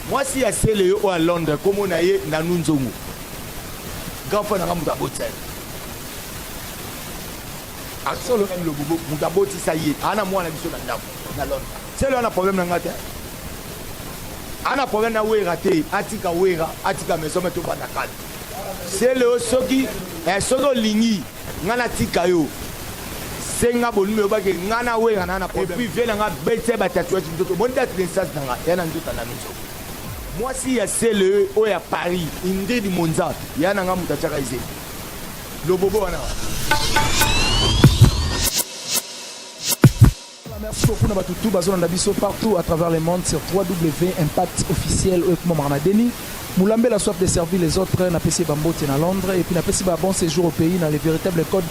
Mwasi ya sele yo oyo ya Londres kombo na ye Nanu Nzongo. Grand frère na nga moto abotisa ye. Asolo na Lobobo moto abotisa ye. Ana mwana biso na ndako na Londres. Sele wana problème na nga te. Ana problème na Wera te. Atika Wera, atika maison mais tobanda kala. Sele yo soki eh, soki olingi Nga na tika yo senga bonime yo bake nga na wenga na na problème. Et puis vie na nga bete ba tatouage ndoto bon date naissance na nga ya na ndoto na miso. Mwasi ya CLE oyo ya Paris Ingrid Monza ya na nga mutachaka izeli. Lobobo wana. Merci beaucoup na batu tout bazolanda biso partout à travers le monde sur www.impact officiel oyo ekomamaka na deni Moulambe la soif de servir les autres na pesi bambote na Londres et puis na pesi ba bon séjour au pays na le véritable code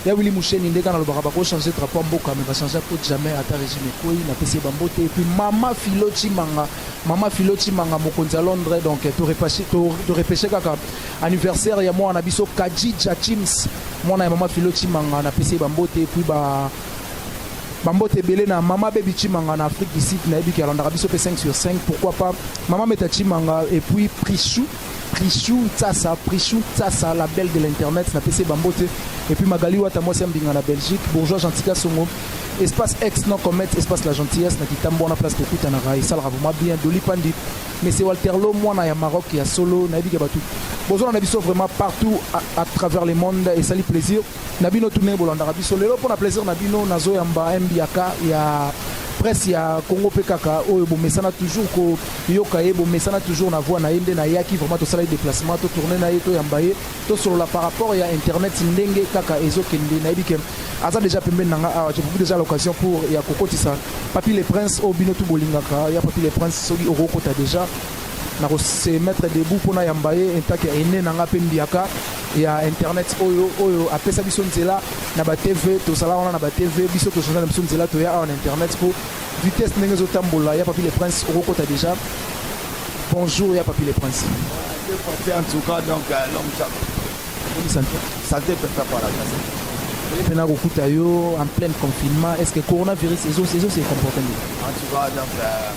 ya Willy Moucheni ndeka na lobaka bako changer drapeau mboka mais ba changer code jamais ata régime ekoi na pesi bambote et puis mama Philo Chimanga mama Philo Chimanga mokonzi à Londres donc to repêcher to, to repêcher kaka anniversaire ya mwana biso Kadji Jachims mwana ya mama Philo Chimanga na pesi bambote et puis ba Bambote ebele na mama Baby Chimanga na Afrique du Sud na yebi ki alandaka biso pe 5 sur 5 pourquoi pas mama Meta Chimanga et puis Prichou Prichou Tsasa Prichou Tsasa la belle de l'internet na PC Bambote et puis Magali Wata moi c'est Mbinga na Belgique bourgeois Gentika Songo espace ex non comet espace la gentillesse na kitambo na place kokuta na rai sala vraiment bien Doli Pandi mais c'est Walter Lo mwana ya Maroc ya solo na yebi ki batou bozona na biso vraiment partout à, à travers le monde et sali plaisir na bino tout ndenge bolandaka biso lelo mpo na plaisir na bino nazoyamba mbiaka ya presse ya congo mpe kaka oyo bomesana toujours koyoka ye bomesana toujours na voix na ye nde nayaki vraiment tosala ye déplacement totourne na ye toyamba ye tosolola par rapport ya internet ndenge kaka ezokende nayebi ke aza déjà pembeni na nga awa je propose déjà l'occasion pour ya kokotisa papi le prince oyo bino tu bolingaka ya papi le prince soki okokota déjà nako se mettre debout pona yamba ye en tant que aine na nga pe mbiaka ya internet oyo oyo apesa biso nzela na ba TV tozala wana na ba TV biso tozala na biso nzela toya awa na internet po vitesse ndenge ezotambola ya papi le prince okokota deja bonjour ya papi le prince en tout cas donc euh, l'homme santé santé pesa par la santé pena kokuta yo en plein confinement est ce que coronavirus ezo ezo se comporter en tout cas donc euh,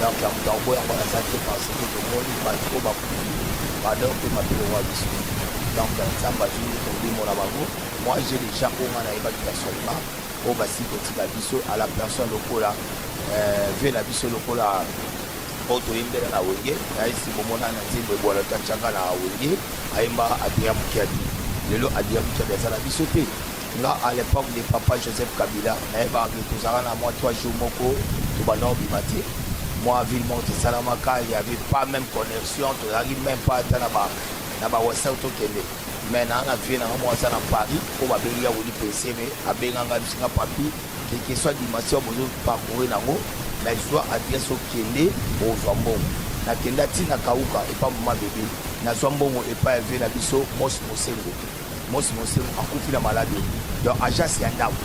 donc ya moto akoboyaka aza te parce que tomoni bato oyo bakufi bador mpe mabele wa biso donc nzambe azwi molimo na bango moi je déjà oyo nga nayebaki ya solima oyo basi kotika biso à la personne lokola euh, ve na biso lokola oyo toyembela na wenge nayesi bomona na nzembo ebwala to atyaka na wenge ayemba adria mokiadi lelo adria mokiadi aza na biso te Nga à l'epoque de papa Joseph Kabila nayebaka ke tozalaka na mwa trois jours moko tobanda kobima te mwa ville moko tosalamaka il y avait pas même connexion tozalaki même pas ata na ba na ba whatsapp tokende mais naa na vie nanga moko aza na paris oyo babengi ya weli peseme abenga ngai bisinga papi keke soit dimension bozo parcourir nango mais zwa adresse okende ozwa mbongo nakenda ntina kauka epa mama bebe nazwa mbongo epai ya vie na biso mos mosengo Mosi Mosemu akufi na maladi oyo donc agence ya ndako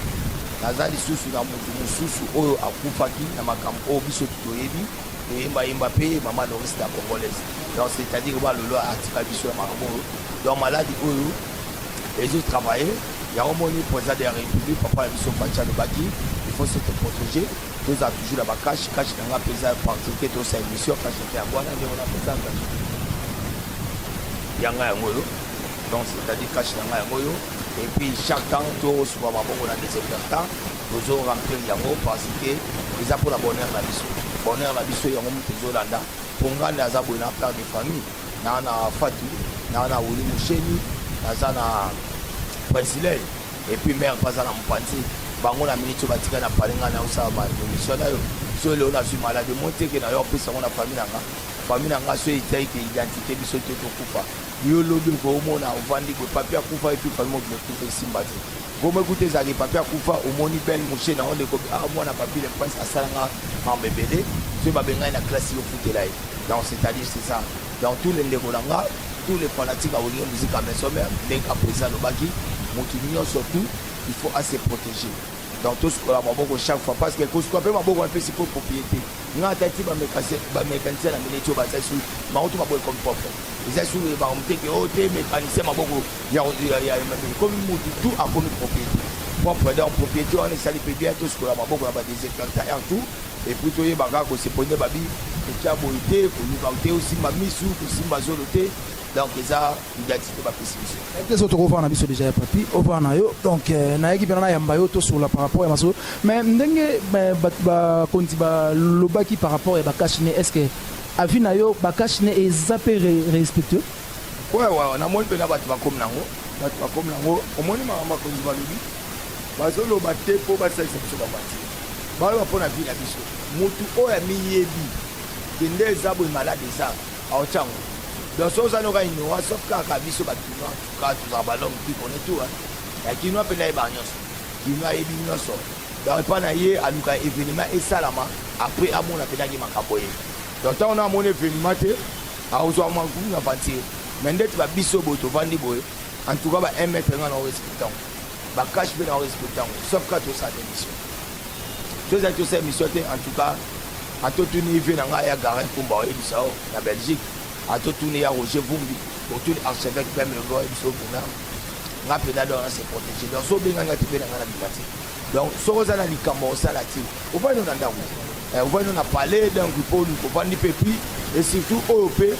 naza lisusu na moto mosusu oyo akufaki na makambo oyo biso toyebi toyembayemba mpe mama Loris la congolaise donc c'est-à-dire balolo atika biso ya makambo oyo donc maladi oyo ezo travailler yango moni président de la république papa na biso faci alobaki il faut se protéger tozala toujours na bakashi kashi na ngai mpenza particulier tosa émission kashi te yango wana ndenge napesa kashi yanga yango oyo donc c'est à dire cache na ngai yango yo et puis chaque temps tozwa maboko na desinfectant tozo remplir yango parce que eza mpo na bonheur na biso bonheur na biso yango moto ezolanda mpo ngai nde aza boye na père de famille naa na fatu naa na wili mosheni naza na presilei et puis mère mpe aza na mopanzi bango na miniti oyo batika na pale ngai naosala baemission na yo so leo nazwi maladi moteke na yo apesa yango na famille na ngai famille na ngai so etyaike identité biso te tokufa Yo lobi oko omona ovandi boye papi akufa epi famille mobimba ekufa esimba te. Kombo ekuta ezalaki papi akufa omoni belle mouche na yo ndeko ah mwana papi le prince asala nga mambo ebele soki babe ngai na classe yo futela ye. Donc c'est à dire c'est ça. Donc tous les ndeko na nga tous les fanatiques ya wenge musique ya maison mère ndenge kapoesi alobaki motu nyonso tout il faut à se protéger. Donc tosikola maboko chaque fois parce que kosikola mpe maboko wana mpe sikoyo propriété. Nga ata ti ba mécanicien ba mécanicien na mine tio ba za su ma oto ma boy comme propre za su ba on te que ote mécanicien ma boko ya ya ya ma mine comme mutu tout a comme propriété propre donc propriété on est sali pe bien tous ko la ma boko na ba désinfectant et tout et puis to ye ba ga ko se pone ba bi et kia boite ko luka te aussi ma misu ko simba zolo te donc eza identité bapesi biso ete so tokofana na biso deja ya papi ofana na yo donc euh, nayaki mpena nayamba yo tosola par rapport ya masolo mais ndenge bato bakonzi balobaki par rapport ya bakashi ne est ce que avis na yo bakashi ne eza mpe respectueux wewe namoni mpena bato bakomi nango bato bakomi nango omoni makambo bakonzi balobi bazoloba te mpo basalisa biso babati baloba mpo na vi na biso motu oyo amiyebi kende eza boye malade eza Aotiango donc soki oza noka inoa soki kaka biso ba kinois kaka tozala ba long pi kone tu ya kinois mpe nayeba nyonso kinois ayebi nyonso donc epa na ye aluka evenema esalama apres amona mpenaki makambo ye donc ntango na amoni evenema te akozwa mankumu na vantire me ndeti ba biso boye tovandi boye en tout cas ba 1 mètre nga na oyo esiki ntango ba cash pe na respecte yango sauf ka tosala na émission so ezali tosala émission te en tout cas atotuni vie na ngai ya garin kumba oyebisa o na belgique atotuni ya roger vumbi otuni archevêque peme lobo oyebisa okuna nga mpena donc na se protégé donc so obenga nga te mpe na nga na bima te donc soki oza na likambo osala te ovandi na ndako ovandi na palais donc mpo ovandi mpe pi et surtout oyo mpe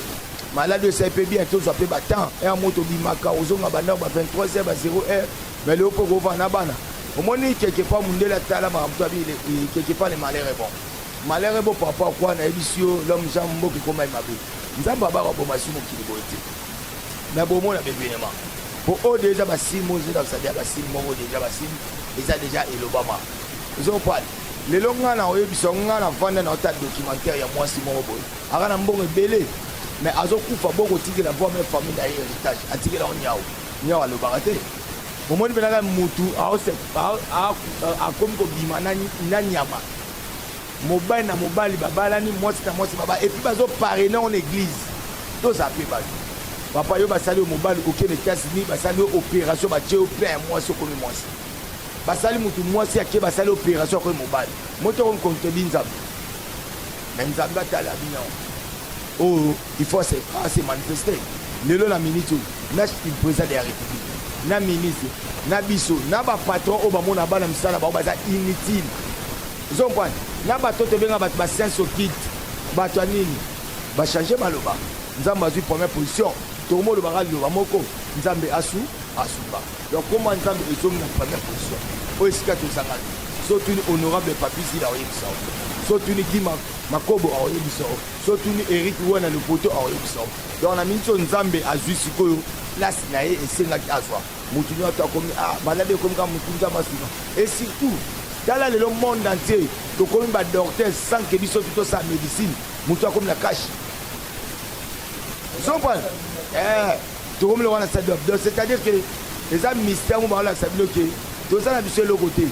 Malade oyo esali pe bien tozwa pe ba temps heure moko tobimaka ozonga ba ndako ba 23 heure ba 0 heure mais lelo pe okovanda na bana omoni quelque part mundele atala makambo to abi quelque part le malheur est bon malheur est bon par rapport à quoi nayebisi yo l'homme jean mboka ekoma ye mabe nzambe abaka boma esi mokili boye te mais bomona bevenema po oyo deja basime oyo ezodakisa deja basime moko deja basime eza deja elobama ozopale lelo ngai na oyebisa ngai na vanda na ota documentaire ya mwasi moko boye Aza na mbongo ebele mais azokufa bo kotikela bo meme famille na ye heritage atikela yango nyau nyau alobaka te omoni mpe naka mutu akomi kobima na nyama mobali na mobali babalani mwasi na mwasi baba epuis bazoparene on église toza mpe bato papa yo basali yo mobali okende etats-unis basali yo opération batye yo plein ya mwasi okomi mwasi basali mutu mwasi ake basali opération akomi mobali moto okomi kontebi nzambe Mais Nzambe atala bino. Oh, il faut se, ah, se manifester. Lelo na minute oyo, na le président de la République, na ministre, na biso, na ba patron oyo bamona bana misala bango baza inutile. Ozo comprendre? Na bato tobenga bato ba sense occulte, bato ya nini? Ba changer maloba. Nzambe azwi première position. Tokomolobaka liloba moko, Nzambe asu asuba. Donc kombo ya Nzambe ezongi na première position. Oyo esika tozanga te. So tuni honorable Papi Zila oyebisa yo. So tuni Guy Makobo oyebisa yo. So tuni Eric Wana Lopoto oyebisa yo. Donc na minso Nzambe azui sikoyo place na ye esengaki azwa. Mutu nyo ata komi ah malade komi ka mutu Nzambe asika. Et surtout tala lelo monde entier tokomi ba docteurs sans que biso tuto sa médecine. Mutu akomi na cash. Zombana. Eh Tokomi lokola na stade d'Abdon, c'est-à-dire que eza mystère mo baolakisa bino ke toza na biso eloko te.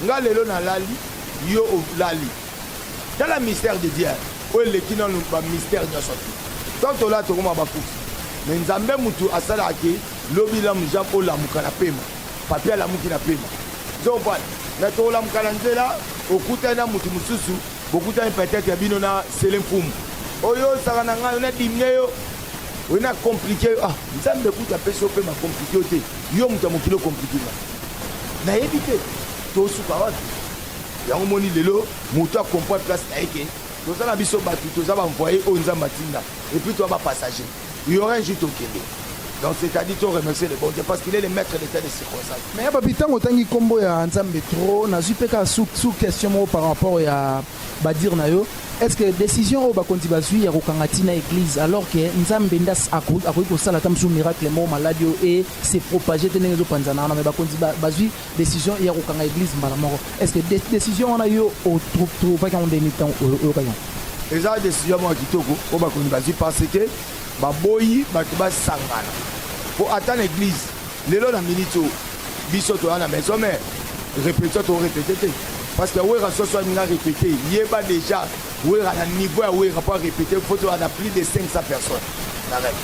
Nga lelo nalali, yo olali. Tala mystère de Dieu oyo eleki nanu ba mystère nyonso te. Tant tolala tokoma bakufi, mais Nzambe mutu asalaka ke lobi lamu Jean olamuka na pema, Papy alamuki na pema. Ozo comprendre? Mais tokolamuka na nzela, okutani na mutu mosusu, bokutani peut-être bino na Sele Mfumu. Oyo osaka na ngai, yo nadimne yo. oye na komplike yo ah nzambe kutu apesi yo mpe makomplike yo te yo moto ya mokili okomplike nga nayebi te tosuka wapi yango moni lelo moto akomprendre place na ye ke toza na biso bato toza baenvoye oyo nzambe atinda epuis toya bapassager yora injur tokende donc c'est-à-dire to remercier le bon dieu parce qu'il est le maître de tel circonstance mais ya babi ntango otangi nkombo ya nzambe trop nazwi mpe kaka sous question moko par rapport ya badire na yo Est ce que decision oyo bakonzi bazui ya kokanga ti na eglise alors que nzambe nde akoki kosala ata mosusu miracle moko maladi oyo e se propage te ndenge ezopanzana wana me bakonzi bazui decision ya kokanga eglise mbala moko est ce que decision wana yo otrouvaki yango ndenge ntango oyokaki yango eza decision moko ya kitoko oyo bakonzi bazui parce que baboyi bato basangana mpo ata na eglise Lelo na minute oyo biso toya na maison mère repetition to repete te parce que wera soso alinga repete yeba déjà wera na niveau ya wera mpo arepete faut toya na plus de 500 personnes na rep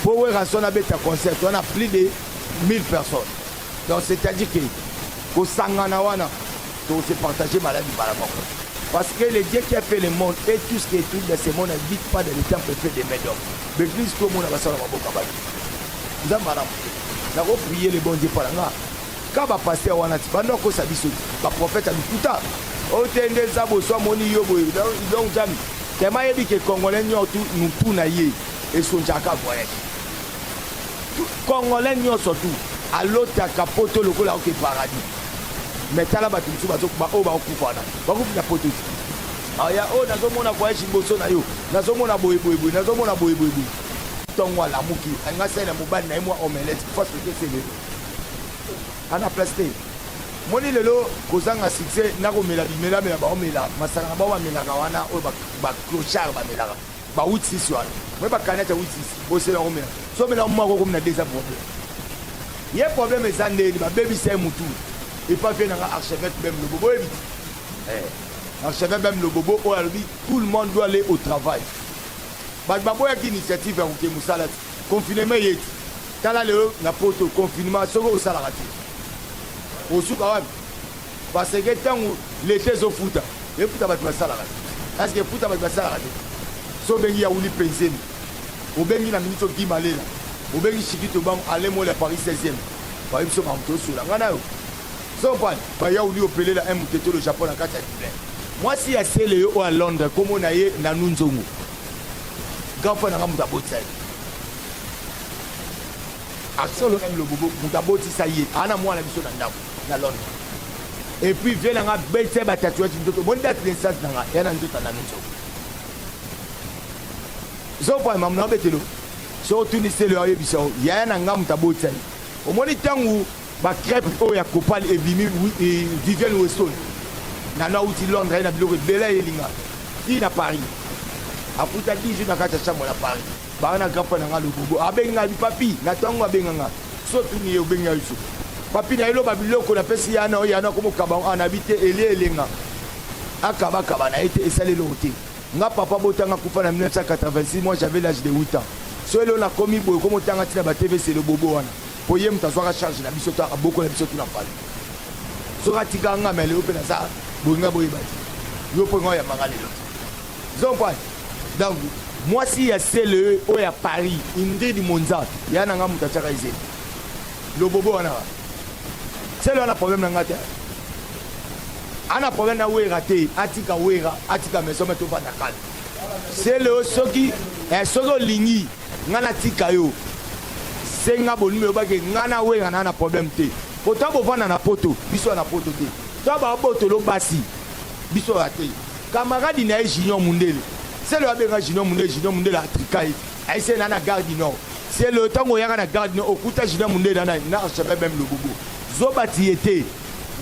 mpo wera son abeta concert toya na plus de 1000 personnes donc c'est à dire que kosangana wana tose partage maladi mbala moko parce que le dieu qui a fait le monde et tout ce qui est tout dans ce monde n'habite pas dans le temple fait des mains d'homme mais plus tomona basala maboko ya bato nzambe aramu te nako prier le bon dieu pona nga ka ba pasteur wana ti bando akosa biso ti ba prophète ya lokuta otende eza boso amoni yo boye donc jami tema yebi ke congolais nyotu mutu na ye esonjaka voyage congolais nyonso tu alotaka poto lokola oke paradis me tala bato mosusu bazokuba oyo bakokufa wana bakufi na poto ti aya oyo nazomona voyage liboso na yo nazomona boyeboyeboye nazomona boyeboyeboye ntongo alamuki alingi asalela mobali na ye mwa omelete mpo asoki esele ana place te moni lelo kozanga succès nakomela bimelamela baomela masaka na bao bamelaka wana oyo baclochard bamelaka ba 86 wana me bakani ata 86 bosela komela so omela moko okomi na deza problème ye problème eza ndeni babebisa ye motu epa mpe nanga archevêque bem lobobo oyebi eh, archevêque bem lobobo oyo alobi tout le monde doit aller au travail Bato baboyaki initiative ya kokende mosala ti confinement eye ti tala lelo na poto confinement soki osalaka te osuka wapi parce que ntango leta ezofuta efuta bato basalaka te parceke efuta bato basalaka te so obengi yauli penzeni obengi na ministre guy malela obengi shikito bango ale mola paris 16e bayebi biso bango tosola ngai nayo Zoban ba yauli opelela un muteto le Japon na kati ya Dublin. Mwasi ya Celeo oyo a Londres kombo na ye Nanou Nzongo. Grand frère na nga moto abotisa ye. Asolo na Lobobo moto abotisa ye. Ana mwana biso na ndako na Londres. Et puis vieux na nga bete ba tatouage ndoto. Bon date de naissance na nga ya na ndoto na Nzongo. Zoban mamu na betelo. So otuni Celeo ayebisa yo yaya na nga moto abotisa ye. Omoni tangu Ba crêpes oyo ya copal ebimi Vivienne Weston nanu awuti Londres aye na biloko ebele ayelinga ti na Paris akuta 10 jours na kati ya chambre na Paris baa na grand frère na nga lobobo abengi nga bi papi na tango abenga nga so tuni ye obengi nga biso papi na eloba biloko na pesi yana oyo yana komokaba ana bi te elie elenga akaba kaba na ye te esali eloko te nga papa botanga kufa na 1986 moi j'avais l'âge de 8 ans so elo nakomi boye komotanga ntina ba tvc lobobo wana Po ye mutu azwaka charge na biso to abokola biso tuna fally soki atika nga mais lelo pe naza boyi nga boyeba te yo po nga oyamba nga lelo zompani donc mwasi ya sele oyo ya paris ingrid monza ya na nga mutu atiaka ezeli lobobo wana sele wana problème na nga te ana problème na wera te atika wera atika maison me tofanda kala sele oyo soki eh, soki olingi Nga na tika yo senga bonime obake nga na wenga na na problème te po ta bovanda na poto biso ya na poto te ta babotolo basi biso ya te kamaradi na ye junior mundele selo abenga junior mundele junior mundele atrika ye aise na na gare du nord selo ntango oyaka na gare du nord okuta junior mundele na na archevêque meme lobobo zoba tiye te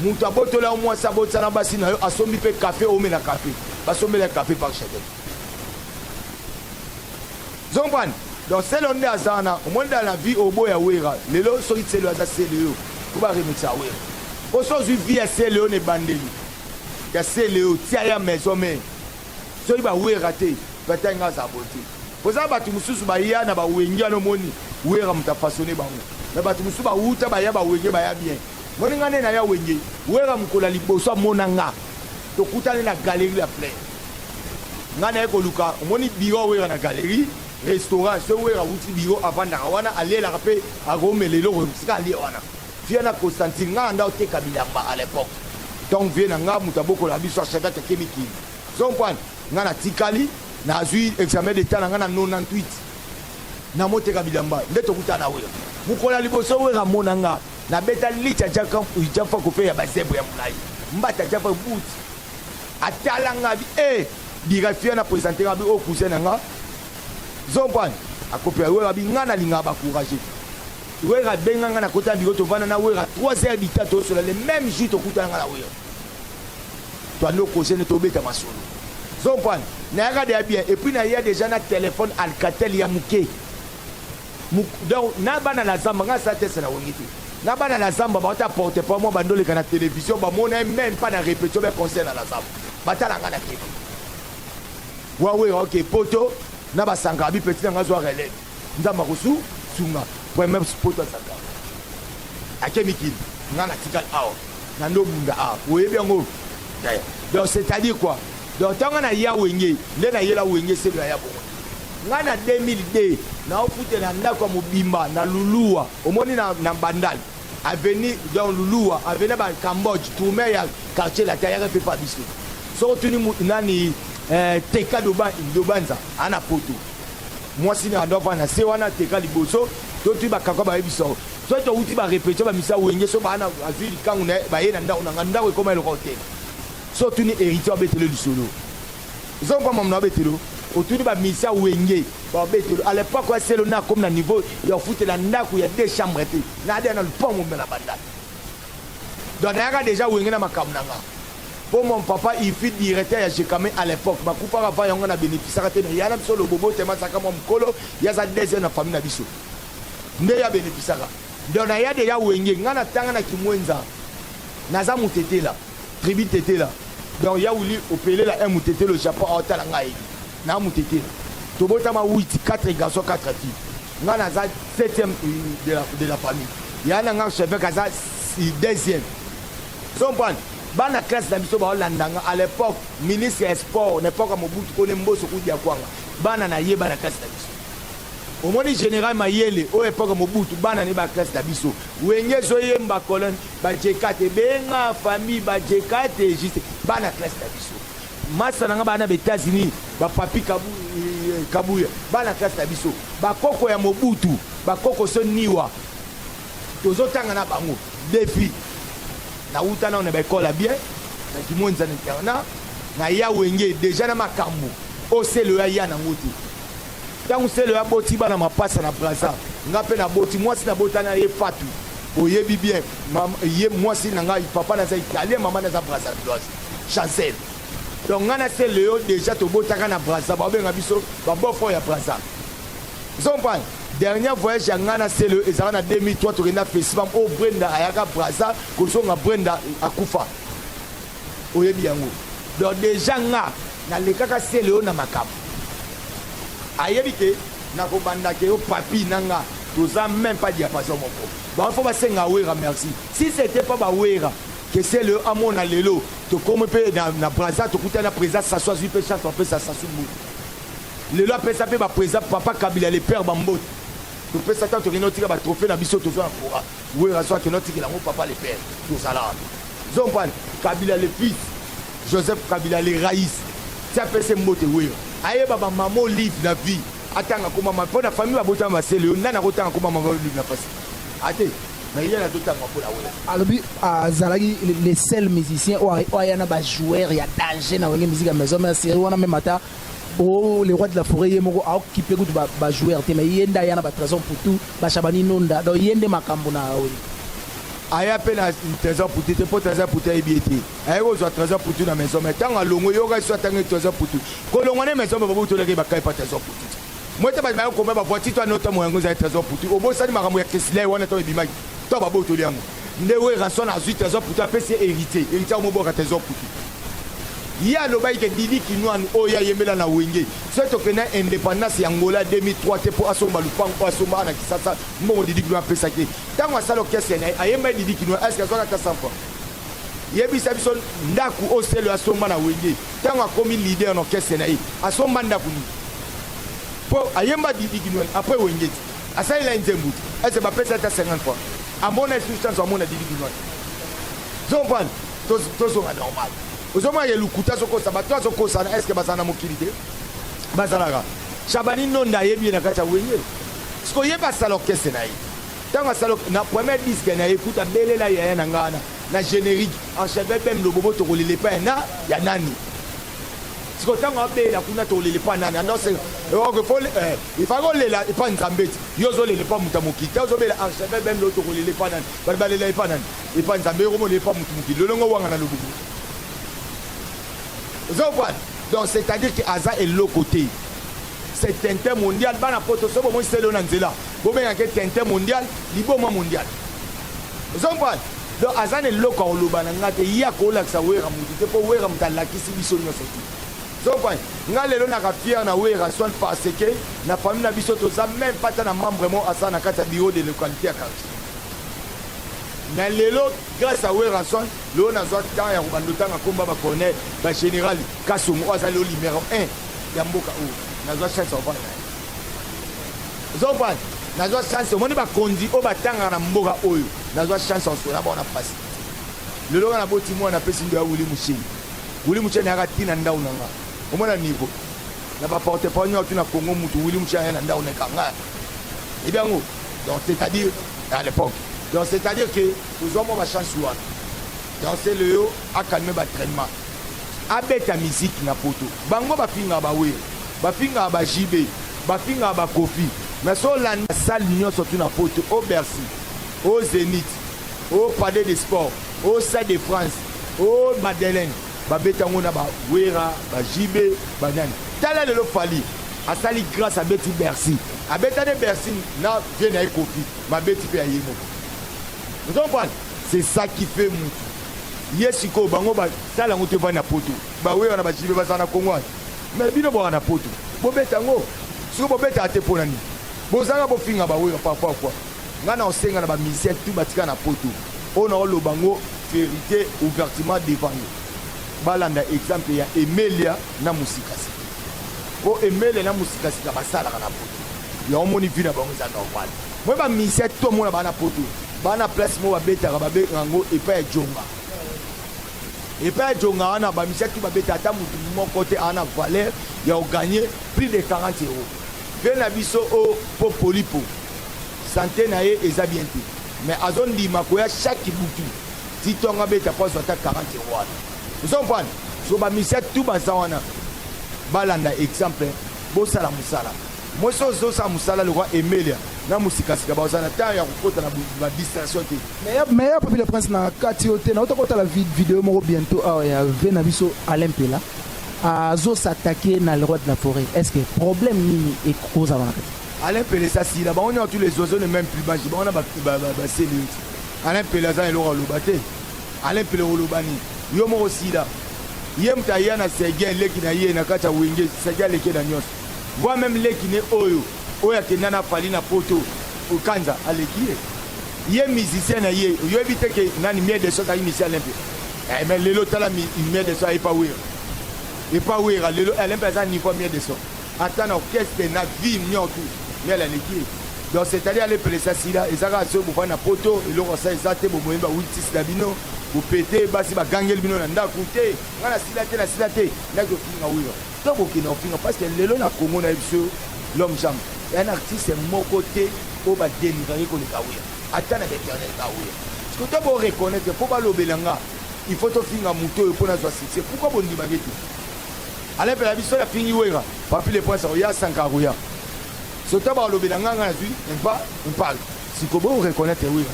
moto abotola yo mwasi abotisa na basi na yo asombi mpe kafe omela kafe basombela kafe par chadel Ozo comprendre? Donc Celeo nde aza wana, omoni dans la vie oboya Werra, lelo soki Celeo aza Celeo, po ba remixaka Werra. Po soki ozwi vie ya Celeo na ebandeli, ya Celeo tia ye en maison mère, soki ba Werra te, peut-être nga azala boye te. Po eza na batu mosusu baya na ba Wenge wana omoni Werra moto a façonner bango. Mais batu mosusu ba wuta baya ba Wenge baya bien. Omoni nga nde naya Wenge, Werra mokolo ya liboso amona nga, tokutani na Galerie La Plaine. Nga naye koluka omoni bureau ya werra na galerie restaurant soki werra awuti bureau avandaka wana alelaka pe akomela eloko esika alie wana vieux na costantine nga nanda oteka bilamba à l'epoque donc vieux na nga mutu abokolaka biso a chadat ake mikili ozo comprendre nga natikali nazui examen d'etat na nga na 98 na moteka bilamba nde tokuta na werra mokolo ya liboso werra amona nga nabeta licha jafa kofe ya bazebre ya molai mbata jafa boot Atala nga bi eh birefia na presente nga bi o oh, cousin na nga zompani akopela wera bi nga nalingaka bacourage wera abenga nga nakota na biro tovanda na wera 3 heures du temps tosola le même jour tokutana nga na wera toandi okoze ne tobeta masolo zompani nayaka deya bien epuis naya deja na telefone alcatel ya moke Donc na bana na zamba nga sa test na wengi te. Na bana na zamba ba ta porte pas moi bandole kana television ba mona même pas na répétition ba concert na zamba. Ba tala nga na tele. Wawe ok poto na ba sanga bi petit na nga zo relève. Nzamba kosu sunga. Premier poto sanga. Ake mikili nga na tikal awa. Na ndo bunda awa. Oyebi yango. Donc c'est-à-dire quoi? Donc tanga na ya wenge, nde na yela wenge c'est na ya bongo. Nga na 2002 naofutela ndako ya mobimba na Lulua, omoni na, na Bandal avenue donc Lulua avenue ba Cambodge tourme ya quartier latin ayaka mpe pa biso soko tuni nani eh, teka dobanza ana poto mwasi na ando avanda se wana teka liboso totui bakakwa bayebisa so touti barepetio bamisa wenge so baana azwi likangu na ye baye na ndako na nga ndako ekoma eloko te so tuni héritier abetele lisolo Zo kwa mamna betelo otuni ba misa wenge ba betelo à l'époque ya selo na comme na niveau ya ofutela ndaku ya deux chambres te na ada na lupango mela banda donc nayaka déjà wenge na makambo na nga po mon papa il fut directeur ya jekame à l'époque bakufaka va yango na bénéficiaka te mais yana biso lobobo te masaka mwa mokolo yaza deuxième na famille na biso nde ya bénéficiaka donc naya déjà wenge nga na tanga na kimwenza naza mutetela Tribu tetela donc ya wili opelela un mutetela au Japon awa tala nga ayebi na mutetela tobotama witi 4 garçon 4 filles nga naza 7e de la, de la famille ya na nga chevek aza 2e comprendre bana classe na biso baolanda nga à l'époque ministre ya sport na epoque ya mobutu kone mboso kudi ya kwanga bana na ye bana classe na biso omoni général mayele oyo epoke mobutu bana ne ba classe na biso wenge ezoyemba colonne Bajekate benga famille bajekate juste bana classe na biso masa na nga bana ba Etats-Unis ba papi kabu, eh, kabuya bana classe na biso bakoko ya mobutu bakoko so niwa tozotanga na bango defi nauta nao na baekole ya bien na kimonza na internat na ya wenge deja na makambo oselo ya ya nango te Tangu selo ya boti bana mapasa na braza nga pe na boti mwasi na bota na ye fatu oyebi bien ye mwasi na ngai papa naza italien mama naza brazavilloise chancel donc nga na se leo deja tobotaka na braza babenga biso babofo ya braza zompane dernier voyage ya ngai na selo ezala na 2003 tokenda festival oyo brenda ayaka braza kozonga brenda akufa oyebi yango donc deja nga Na lekaka celeo na makambu ayebi ke na ko banda ke yo papy na nga toza meme pas diapason moko bango faut ba senga werra merci si ce etait pas ba werra ke celeo amona lelo tokomi pe na, na braza tokutani na president sasu azui pe chance bapesa sasu mbutu lelo apesa pe ba president papa kabila le père bambote topesa ntango tokende otika ba trophee na biso tozo na kora Werrason akende otikela yango papa le père tozala wapi zompani kabila le fils joseph kabila le rais ti apese mbote wera ayeba bamama olive na vie atanga komama mpo na famille babotama masele yo nani akotanga komama olive na pasi ate mais ye nazotanga mpo na wera alobi azalaki le seul musicien oyo aya na bajoueur ya danger na wenge musique ya maison mère série wana meme ata Oh, le roi de la forêt ye moko aokipe kutu ba, ba joueur te mais ye nde aya na ba trésor putu bashabani nonda donc ye nde makambo na oyo aya mpe na trésor putu te mpo trésor putu ayebi ye te aye kozwa trésor putu na maison mais ntango alongo yoka so atangi trésor putu kolongwa na maison bababu tolaki bakai mpa trésor putu te moi te bato baye kokomba bavoiture to anota moyango ezali trésor putu obosani makambo ya kesila ye wana ntango ebimaki to babotoli yango nde werason azwi trésor putu apesi ye héritier héritier akomobwaka trésor putu Ye alobaki ke Didi Kinuanu oyo ye ayembela na Wenge soki tokende na independance ya Angola 2003 te po asomba lupangu oyo asomba awa na Kisasa mbongo Didi Kinuanu apesaki ye. Tango asala orchestre na ye ayembaki Didi Kinuanu est ce que azwaki ata 100 francs? Yebisa biso ndaku oyo Celeo asomba na Wenge tango akomi leader na orchestre na ye asomba ndaku nini? Po ayemba Didi Kinuanu après Wenge te asalela ye nzembo te est ce que bapesa ye ata 50 francs? Amona lisusu chance amona Didi Kinuanu? Ozo comprendre? tozonga normal ozomona ye lokuta azokosa bato azokosana eske bazala na mokili te bazalaka shabani nonda ayebi ye na kati ya wenge siko ye basala orkestre na ye ntango asala na premier diske na ye kuta belela yaya na ngai wana na generique encheve bem lobobo tokolela epai na ya nani siko ntango abelela kuna tokolela epai nani anose ifaki olela epai nzambe ti yo ozolela epai moto ya mokili te ozobela encheve bem lo tokolela epai nani bato balela epai nani Epa nzambe yoko mona epa mutu mokili lolongo wanga na lobuku ozo voir donc c'est à dire que aza eloko te c'est tintin mondial bana poto so bomoi selo na nzela bobengaka ye tintin mondial liboma mondial ozo voir donc aza na eloko akoloba na ngai te ye akolakisa wera motu te mpo wera moto alakisi biso nyonso te zokwani ngai lelo naka fiere na wera soin parce que na famille na biso toza meme pata na membre mo asala na kati ya bureau de localité ya quartier Mais lelo grace à Werrason lelo nazwa temps ya kobanda otanga kombo ya ba colonel ba general kasongo oyo aza lelo numero 1 ya mboka oyo nazwa chance ya kofanda naye oza kofanda nazwa chance omoni bakonzi oyo batangaka na mboka oyo nazwa chance ya kosola baona mpasi lelo nga naboti mwana apesi ndo ya wili musheni wili musheni ayaka ti na ndau na nga omona niveau na baporte parole nyonso tu na congo mutu wili musheni aya na ndau na ekanga ebi yango Donc c'est à dire à l'époque. Donc c'est à dire que nous avons ma chance wana. Donc c'est le yo a calmé ba traitement. Abeta musique na poto. Bango ba finga ba we. Ba finga ba JB. Ba finga ba Kofi. Mais so la salle nyo surtout na poto au Bercy, au Zénith, au Palais des Sports, au Stade de France, au Madeleine. ba beta ngo na ba wera ba JB ba nani tala lelo Fally asali grâce à beti Bercy abeta ne Bercy na vie na ye Koffi ma beti pe aye moko vous comprenez c'est ça qui fait mutu ye sikoyo bango basala yango te vani na poto bawe wana bajibe bazala na kongo wana me bino bwaka na poto bobeta yango sikoyo bobetaka te mpo na nini bozalaka bofinga bawe parfois fois Nga nao senga na ba musiciens tout ba tika na poto oyo nao loba ngo verite ouvertement devant yo ba landa exemple ya Emelia na Musikasika po Emelia na Musikasika ba salaka na poto ya omoni vie na bango eza normal moi ba musiciens tout omona ba na poto ba na place mo ba betaka ba bengaka ngo epai ya Djonga epai ya Djonga wana ba musiciens tout ba beta ata mutu moko te ana valeur ya o gagner plus de 40 euros vie na biso o po polipo Sante na ye eza bien te mais azo ndima koya chaque butu ti tongo abeta po azwa ata 40 euro wana. Ozo comprendre? So ba musiciens tout baza wana balanda exemple bosala musala. Mwasi oyo azo sala musala lokola Emelia na musika sika baza na temps ya kokota na ba distraction te. Meilleur meilleur Papy le Prince na kati yo te na uta kotala vid- video moko bientôt awa ya ve na biso Alain Pela azo s'attaquer na le roi de la forêt est-ce que problème nini ekozala na kati Alain Pele esi asila bango nyonso tous les oiseaux ne meme plus bangi bango na baseli yo ti Alain Pele aza na eloko aloba te Alain Pele oloba nini yo moko sila ye moto aya na Sergei leki na ye na kati ya wenge Sergei aleki na nyonso voi meme leki ne oyo oyo akenda na fali na poto okanza aleki ye ye musicien na ye oyebi te ke nani mie de so azalaki misi Alain Pele eh, mais lelo tala mie de so ayepa wera epa wera lelo Alain Pele aza niveau mie de so Ata na orchestre na vie niotu miel aleki ye donc c'est à dire ale pelesa sila eza kaka soki bovandi na poto eloko asa eza te bomoyi ba wiltis na bino bopete basi bagangeli bino na ndaku te nga na sila te na sila te ndaki ofinga wilo to bokenda ofinga parce que lelo na Congo na biso l'homme jambe ya na artiste moko te oyo ba denigraki koleka wilo ata na b'internet ba wilo siko to bo reconnaître mpo balobela nga il faut tofinga moto oyo mpo nazwa succès pourquoi bondimaki te Alain pela biso ya fingi wera papi le prince akoya sanka akoya sota balobela nga nga nazwi mpa mpal sikobo reconnaître wera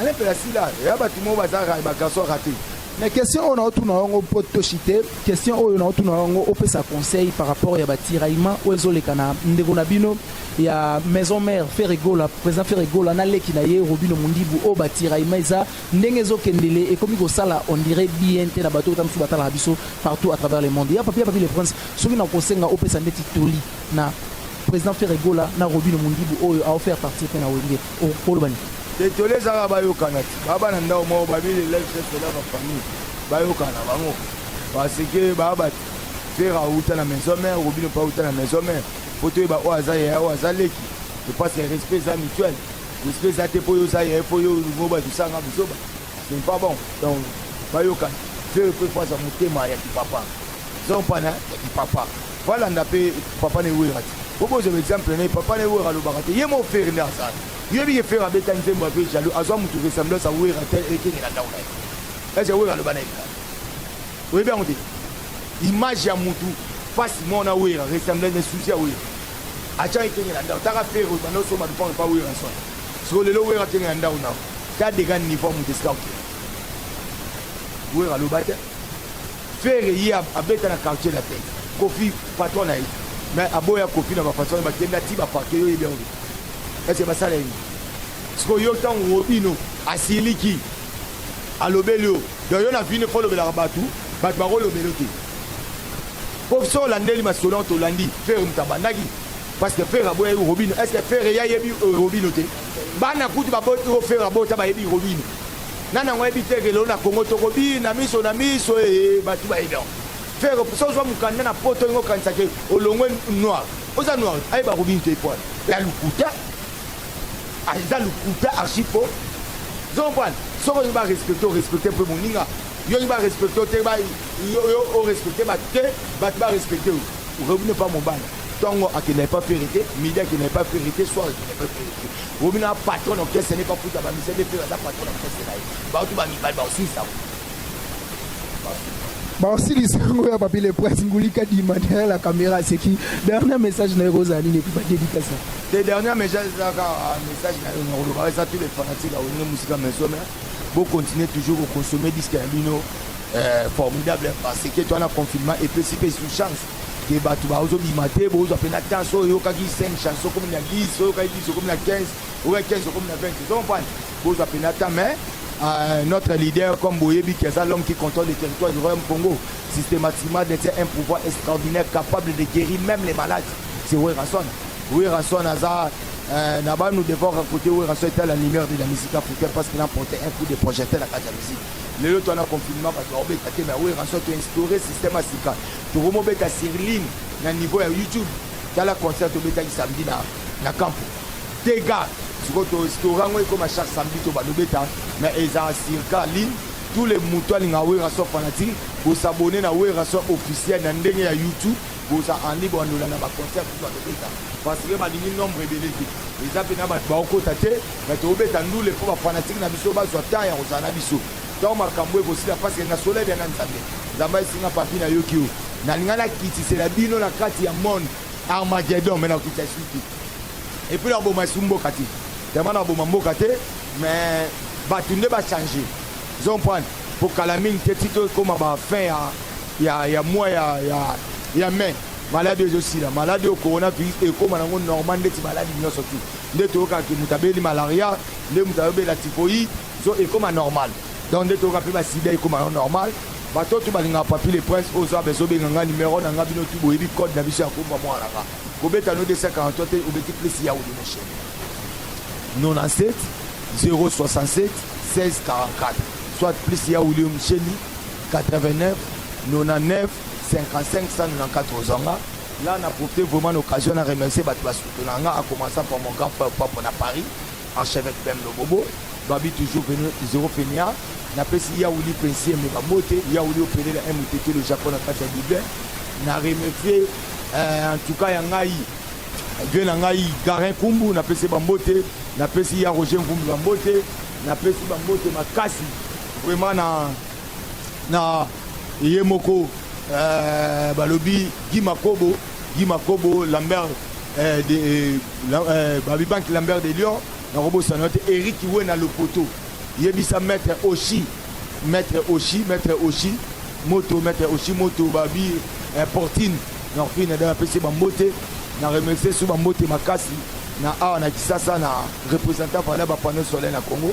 Alain pela sila ya bato moko baza bagarçon rate mais question oyo naotuna yango mpo toshite question oyo naotuna yango opesa conseil par rapport ya batiraillement oyo ezoleka na ndeko na bino ya maison mère ferregola président ferregola na leki na ye robino mundibu oyo batiraillement eza Ndenge ezo kendele ekomi ko sala on dirait bien te na bato ota mususu ba talaka biso partout à travers le monde. Ya Papy, ya Papy le Prince, soki na ko senga opesa ndeti toli na President Ferre Gola na Robino Mundibu oyo ao faire partir pe na Wenge, oko loba nini? Te toli eza kaka ba yokana ti ba bana ndao moko ba bile life chef pela ba famille ba yokana bango parce que ba ba Ferre auta na maison mère, Robino pa auta na maison mère. Faut toyeba oyo aza yaya oyo aza leki. Je pense que respect eza mutuel. respect eza te mpo yo oza ye mpo yo olingo bato osanga buzoba ce n'est pas bon donc bayokana vieux le prefo aza motema ya kipapa zompana ya kipapa balanda mpe papa newera te po bozwa exemple na ye papa newera alobaka te ye mo fere nde azala yoyebi ye fere abeta nzembo ape jaloux azwa motu ressemblance ya wera te ekengela ndako na ye ese wera aloba na ye oyebi yango te image ya motu face mona wera ressemblance na susi ya wera Acha ekenge na ndako. Taka ferre oyo banda osomba lupango epa Werrason. Siko lelo Werra akenge na ndako na yo. Ta dega niveau moto esika oke. Werra aloba te. Ferre ye abeta na quartier la tête. Kofi patron na ye. Mais aboya Kofi na ba façon ba kenda ti ba parquet yo ye bien. Est-ce que ba sala ye? Siko yo tango obino asiliki alobeli yo Donc yo na vine kolobelaka batu batu bakolobela yo te po soki olandeli masolo yango tolandi ferre moto abandaki parce que ferre aboyaki robino est ce que ferre ye ayebi euh, robino te bana kutu baboti oyo ferre abota bayebi robino nani yango ayebi te kelelo na kongo tokobina miso na miso ee eh, bato bayebi yango ferre soki ozwa mokanda na poto olingi okanisaki olongwe noir oza noir ayeba robino te pwana ya lokuta Aza lokuta archi faux. Ozo comprendre? Soki olingi ba respecter, o respecter mpe moninga. Yo olingi ba respecter yo te, ba yo yo o respecter bato te, bato ba respecter yo. Robi n'est pas mobali. Tongo akendaki pas faire te, midi akendaki pas faire te, soir akendaki pas faire te. Robi na patron orchestre n'est pas foutu ba musée de faire aza patron orchestre na ye. Bato ba mibali ba aussi ça. baosilisa yango ya papi le prince ngulika dima derrière la caméra aseki dernier message na yo ekozala nini epi badedikasa te dernier message eza kaka ah, message na yo na koloba eza tous les fanatiques awenge musika maison mais bo continuer toujours ko consommer disque ya bino euh, formidable parce que toi na confinement epesi mpe sous chance ke bato bazobima te bozwa mpe na temps oyo oyokaki 5 chanson komi na 10 oyokaki 10 okomi na 15 oyokaki 15 okomi na 20 ozompane bozwa mpe na temps mais Euh, notre leader comme boyebi qui est l'homme qui contrôle le territoire du royaume Congo systématiquement détient un pouvoir extraordinaire capable de guérir même les malades c'est Werrason Werrason aza euh, na banu devant raconter Werrason était la lumière de la musique africaine parce qu'il a porté un coup de projecteur na kati ya musique lelo to na confinement bato baobeta te mais Werrason to instauré système ya sika tokomobeta sur ligne na niveau ya youtube tala concert tobetaki samedi na, na campo dega sikoyo to instauré yango ekoma chaque samedi to balobeta mais eza circa ligne tous les moto alinga Werrason fanatique bosabone na Werrason officiel na ndenge ya youtube Boza en libre ndola na ba concert kutu bato beta parce que balingi nombre ebele te eza pena bato baokota te mais tobeta ndule mpo bafanatike na biso bazwa temps ya kozala na biso ntango makambo ekosila parce que na soleil bya na nzambe nzambe ayesinga papi na yoki yo nalinga nakitisela bino na kati ya monde armagedon me nakokitisa esu te epuis naboma esu mboka te tellement naboma mboka te mais bato nde bachange zomprane mpo kala mingi te ti tokoma bafin ya ya ya mois ya ya ya mai maladi oyo ezosila maladi oyo coronavirus ekóma nango normal ndeti maladi nyonso tu nde toyokaka ke moto abeli malaria nde moto ayobela typhoïde so ekóma normal donc nde toyoka mpe basida ekóma yango normal bato oyo tu balingaka papi le prince oyo zaba ezobenga nga numero na nga bino tu boyebi code na biso ya komba mwana nga kobeta no 243 te obeti plus ya ode moshene 97 067 1644 soit plus ya william sheni 89 99 55 194 ozwa nga là na profite vraiment l'occasion na remercier bato basoutenaka nga a commençant par mon grand frère papa na paris archevêque bem lobobo babi toujours venu zero fenia napesi yauli pensie me babote yauli opelela un motete le japon na kati ya bible na remercier euh, en tout cas ya ngai vie na ngai garin kumbu napesi bambote napesi ya roger mvumbi bambote napesi bambote makasi vraiment na na ye moko euh, balobi Guy Makobo Guy Makobo Lambert euh, de, euh, euh, Babibank Lambert de Lyon nakobosana te Eric Wena Lopoto yebisa maître Oshi maître Oshi maître Oshi moto maître Oshi moto babi euh, Portine na Portine da pesi bambote na remercier sous bambote makasi na awa na Kisasa na représentant par là ba panneau solaire na Congo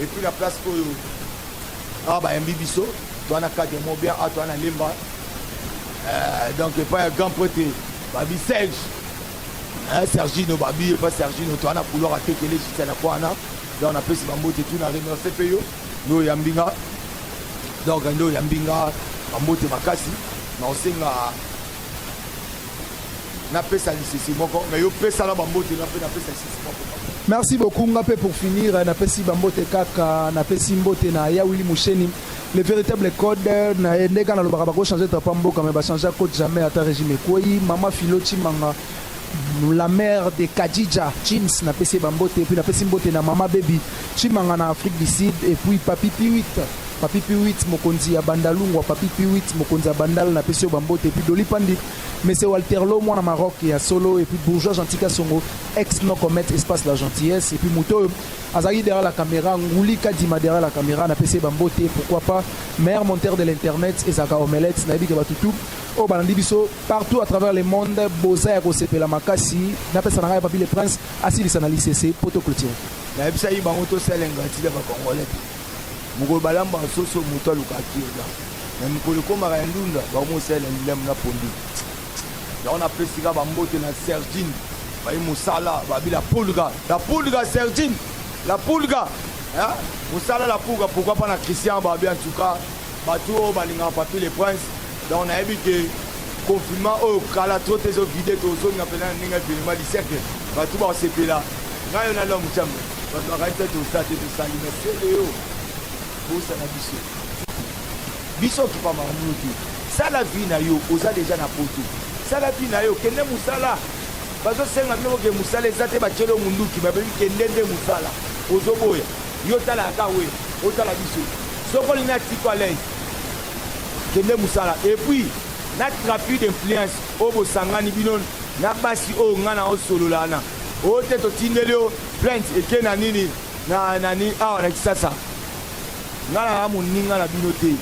Et puis la place oyo awa bayambi biso toa na cadre mo bien awa toa na lemba euh, donc epai ya grand prete babi serge sergino babi epai sergino toa na couloir atekele jita na kwa wana donc napesi bambote tu na remercie mpe yo nde oyambi nga donc nde oyambi nga bambote makasi na osenga napesa lisese moko me yo pesala bambote nga mpe napesa Merci beaucoup nga pe pour finir na pesi bambote kaka na pesi mbote na ya Willy Musheni le véritable code na ende kana lobaka bako changer ta mboka mais ba changer code jamais ata régime koi mama filo chimanga la mère de Kadija James na pesi bambote et puis na pesi mbote na mama baby chimanga na Afrique du Sud et puis papi piwit papi piwit mokonzi ya bandalungwa papi piwit mokonzi ya bandal na pesi yo bambote et puis doli pandi Monsieur Walterlo mwana Maroc ya solo et puis bourgeois gentil kasongo ex no comment espace la gentillesse et puis moto oyo azalaki derrière la caméra nguli kadima derrière la caméra na pese ba mbote pourquoi pas meilleur monteur de l'internet ezaka omelette na yebike batu tout oyo oh, balandi biso partout à travers le monde boza ya kosepela makasi na pesa na ngai papi le prince asilisa na lisese poto clôture na yebisa yi bango tosala ingratitude ya ba congolais Mokolo balambaka soso moto alukaka kirda me mokolo ekomaka ya ndunda bakomosalela lilem na pondu yango napesi ka bambote na sergine bayi mosala babi la pulga la pulga sergine la pulga mosala la pulga pourkoi pa na christian babi en tout cas bato oyo balingaka papi le prince donc nayebi ke confinement oyo kala tro te ezovide tozonga mpena na ndenge evenema liseke bato bakosepela ngayo na lom chambre bato bakali te toza te tosali na sele yo bosana biso biso okipa makambo te sala vi na yo oza deja na poto sala vi na yo kende mosala bazosenga bino boke mosala eza te batyeli yo monduki babebi kende nde mosala ozoboya yo tala aka we otala biso soki olingi na tiko alaise kende mosala epuis na trafic d'influence oyo bosangani bino na basi oyo ngai na osolola na Oyo te totindeli yo plainte eke na nini na nani awa na Kisasa. Nga na moninga na bino te.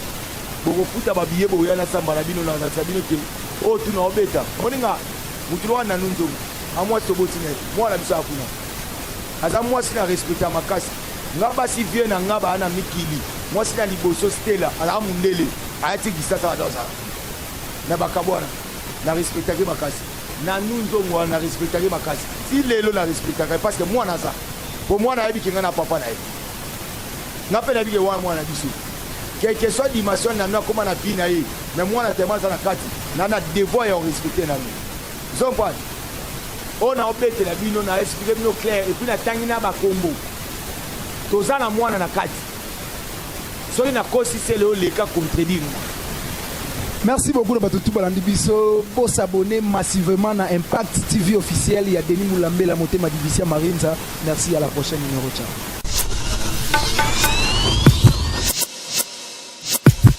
Bokofuta ba billets boya na samba na bino na na bino te. Oyo tu na obeta. Moninga mutu loka na nunzo. Amwa toboti na mwana biso akuna. Aza mwasi na respecta makasi. Nga basi vie na nga ba na mikili. Mwasi na liboso Stella ala mundele. Ayati Kisasa adosa. Na bakabwana. Na respecta ke makasi. Na nu nzongo wana na respectaka ye makasi ti lelo na respectaka ye parce que mwana aza po mwana ayebi ke nga na papa na ye nga pe nayebi ke wana mwana na biso quelque soit dimension na nu akoma na vie na ye mais mwana tellement aza na kati na na devoir ya orespecte na nu zompane oyo na obetela bino na explique bino clair epuis natangi na bakombo toza na mwana na kati Soki na kosi se leo leka contredire moi. Merci beaucoup na bato tout balandi biso bo s'abonner massivement na Impact TV officiel ya Denis Mulambela motema division Marinza merci à la prochaine numéro ciao